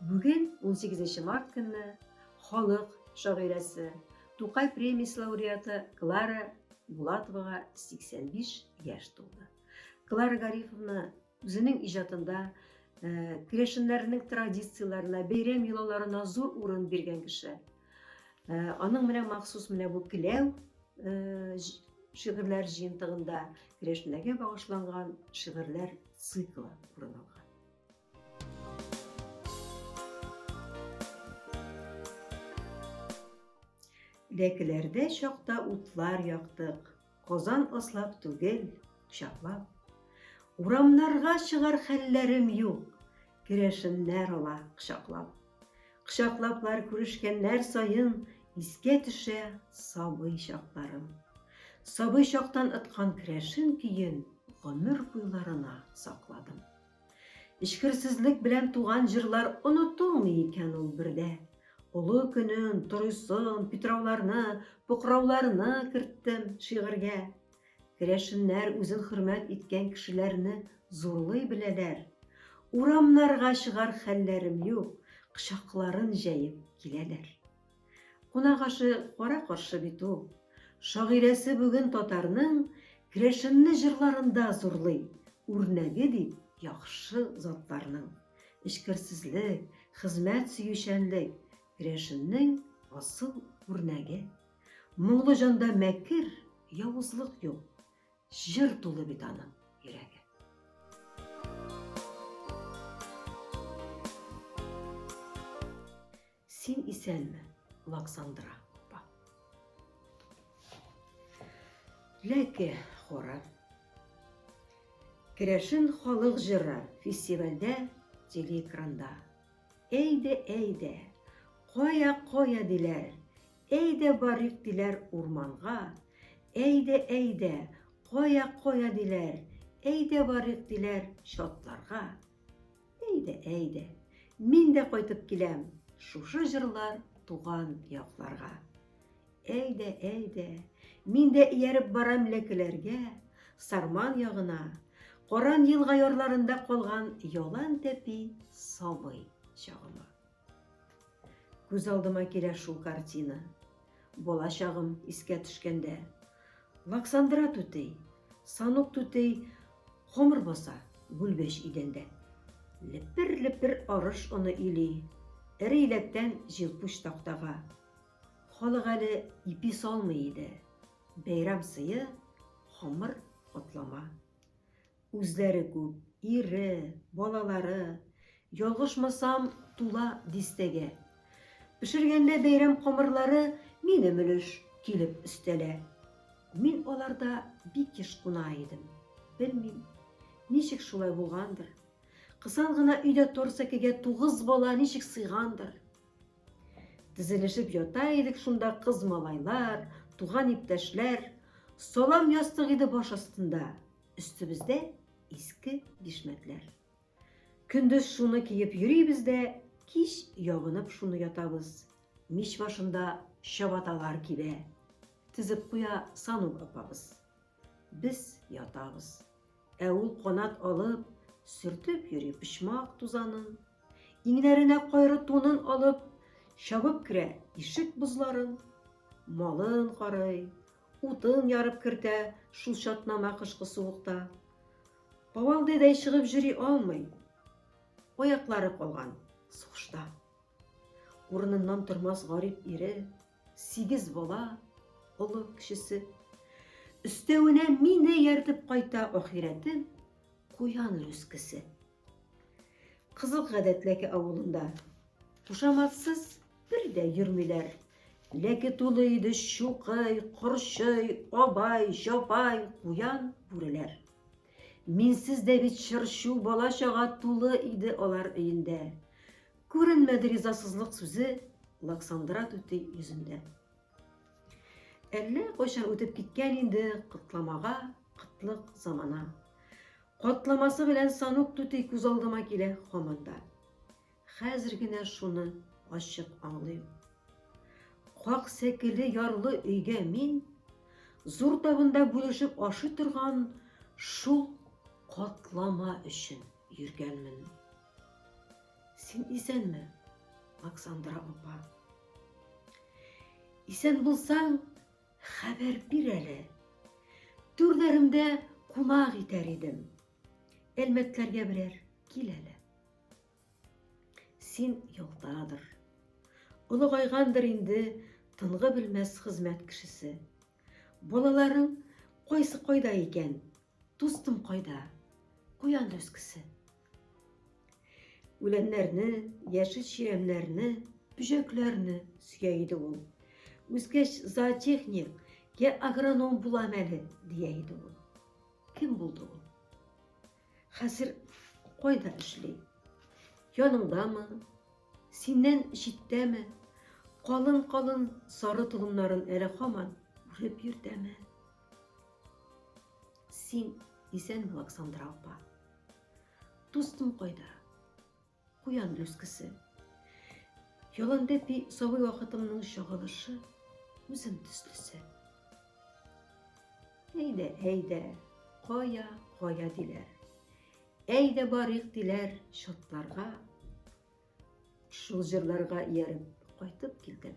Бүген 18 март көнне халык шагыйрәсе, Тукай премиясе лауреаты Клара Булатовага 85 яшь тулды. Клара Гарифовна Үзенең иҗатында керәшеннәрнең традицияләренә, бәйрәм йолаларына зур урын биргән кеше. Аның менә махсус менә бу келәү шигырьләр җыентыгында керәшеннәргә багышланган шигырьләр циклы урын алган. Ләкеләрдә чакта утлар яктык, Казан аслап түгел, кочаклап. Урамнарга чыгар хәлләрем юк, Керәшеннәр ала кочаклап. Кочаклаплар күрешкәннәр саен, Искә төшә сабый чакларым. Сабый чактан ыткан керәшен көен Гомер буйларына сакладым. Эчкерсезлек белән туган җырлар онытылмый икән ул бердә. Олы көнен, торыйсын, питрауларны, покрауларны керттем шигырьгә. Керәшеннәр үзен хөрмәт иткән кешеләрне зурлый беләләр. Урамнарга чыгар хәлләрем юк, кочакларын җәеп киләләр. Кунак ашы кара каршы бит ул. Шагыйрәсе бүген татарның Керәшенне җырларында зурлый, үрнәге бит яхшы затларның. Эчкерсезлек, хезмәт сөючәнлек, керәшеннең асыл үрнәге. Моңлы җанда мәкер, явызлык юк. Җыр тулы бит аның йөрәге. Син исәнме, Лаксандра апа? Ләке хоры. Керәшен халык җыры фестивальдә телеэкранда. Әйдә, әйдә, кая, кая диләр, әйдә барыйк диләр урманга, әйдә, әйдә, кая, кая диләр, әйдә барыйк диләр чатларга. Әйдә, әйдә, мин дә кайтып киләм, шушы җырлар туган якларга. Әйдә, әйдә, мин дә ияреп барам ләкеләргә, Сарман ягына, Каран елга ярларында калган ялан тәпи сабый чагыма. Күз алдыма килә шул картина. Бала чагым искә төшкәндә. Ваксандра түтей, санук түтей хомыр баса гүлбәч идәндә. Лепер-лепер арыш оны или, эре иләктән җилпуч тактага. Халык әле ипи салмый иде. Бәйрәм сые, хомыр котлама. Үзләре күп, ире, балалары, ялгышмасам, тула дистәгә. Пешергәндә бәйрәм камырлары минем өлеш килеп өстәлә. Мин аларда бик еш куна идем. Белмим, ничек шулай булгандыр. Кысан гына өйдә тор сәкегә тугыз бала ничек сыйгандыр. Тезелешеп ята идек шунда кыз малайлар, туган иптәшләр. Салам ястык иде баш астында. Өстебездә иске бишмәтләр. Көндез шуны киеп йөрибез дә, кич ябынып шуны ятабыз. Мич башында чабаталар кибә. Тезеп куя Санук апабыз. Без ятабыз. Ә ул канат алып, сөртеп йөри почмак тузанын. Иңнәренә кайры тунын алып, чабып керә ишек бозларын. Малын карый, Утын ярып кертә шул чатнама кышкы суыкта. Кавалдыйдай чыгып җөри алмый. Аяклары калган сугышта. Урыныннан тормас гарип ире, сигез бала, олы кешесе. Өстәвенә мине яртып кайта ахирәтем, куян рүскесе. Кызыл Гадәтләке авылында кушаматсыз бер дә йөрмиләр. Ләке тулы иде чукый, корчый, абай, җабай, куян, бүреләр. Минсез дә бит чырчу бала-чага тулы иде алар өендә. Күренмәде ризасызлык сүзе Лаксандра түти йөзендә. Әллә кайчан үтеп киткән инде кытламага кытлык замана. Катламасы белән Санук түти күз алдыма килә һаман да. Хәзер генә шуны ачык аңлыйм. Как сәкеле ярлы өйгә мин зур табында бүлешеп ашый торган шул катлама өчен йөргәнмен. Син исәнме, Оксандра апа? Исән булсаң, Хәбәр бир әле. Түрләремдә кунак итәр идем. Әлмәтләргә берәр кил әле. Син ялтадыр. Олыгайгандыр инде тынгы белмәс хезмәт кешесе. Балаларың кайсы кайда икән? Дустым кайда? Куян дөскесе. Үләннәрне, яшел чирәмнәрне, бөҗәкләрне сөя иде ул. Үскәч зоотехник, я агроном булам әле, дия иде ул. Кем булды ул? Хәзер кайда эшли? Яныңдамы? Синнән читтәме? Калын-калын сары толымнарын әле хаман үреп йөртәме? Син исәнме, Александра апа? Дустым кайда? Куян люскесе. Яландәпи сабый вакытымның чагылышы, үзем төслесе. Әйдә, әйдә, кая, кая диләр. Әйдә барыйк диләр шатларга. Шул җырларга ияреп кайтып килдем.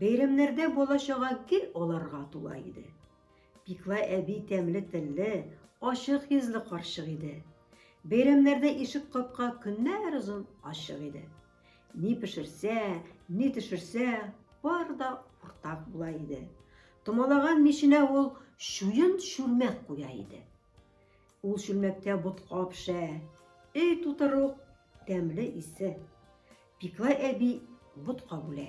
Бәйрәмнәрдә бала-чага гел аларга тула иде. Пикла әби тәмле телле, ачык йөзле карчык иде. Бәйрәмнәрдә ишек капка көннәр озын ачык иде. Ни пешерсә, ни төшерсә, бар да уртак була иде. Томалаган миченә ул чуен чүлмәк куя иде. Ул чүлмәктә ботка пешә, өй тутыру тәмле исе. Пиклай әби ботка бүлә.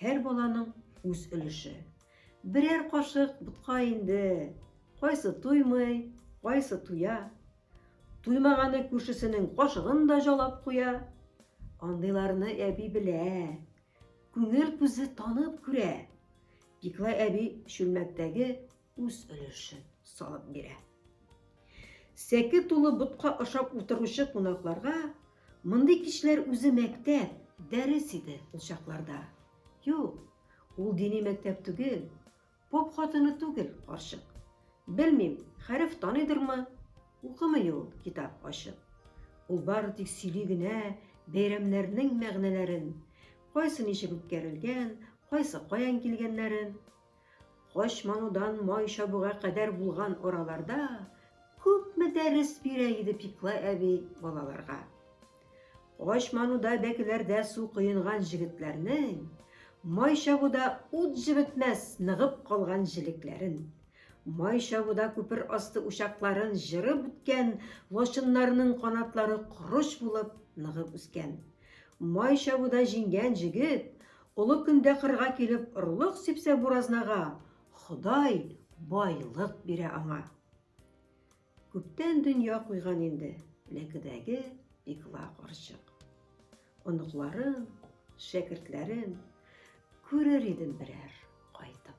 Һәр баланың үз өлеше. Берәр кашык ботка инде. Кайсы туймый, кайсы туя. Туймаганы күршесенең кашыгын да жалап куя. Андыйларны әби белә. Күңел күзе танып күрә. Пиклай әби чүлмәктәге үз өлешен салып бирә. Сәке тулы ботка ашап утыручы кунакларга мондый кичләр үзе мәктәп, дәрес иде ул чакларда. Юк, ул дини мәктәп түгел, поп хатыны түгел карчык. Белмим, хәреф таныйдырмы? Укымый ул китап ачып. Ул бары тик сөйли генә бәйрәмнәрнең мәгънәләрен, кайсы ничек үткәрелгән, кайсы каян килгәннәрен. Кош манудан май чабуга кадәр булган араларда күпме дәрес бирә иде Пикла әби балаларга. Кош мануда бәкеләрдә су коенган җегетләрнең май чабуда ут җебетмәс ныгып калган җелекләрен, май чабуда күпер асты учакларын җырып үткән лачыннарының канатлары корыч булып ныгып үскән. Май чабуда җиңгән җегет Олы көндә кырга килеп орлык сипсә буразнага, Ходай байлык бирә аңа. Күптән дөнья куйган инде ләкедәге пикла карчык. Оныкларын, шәкертләрен күрер идем берәр кайтып.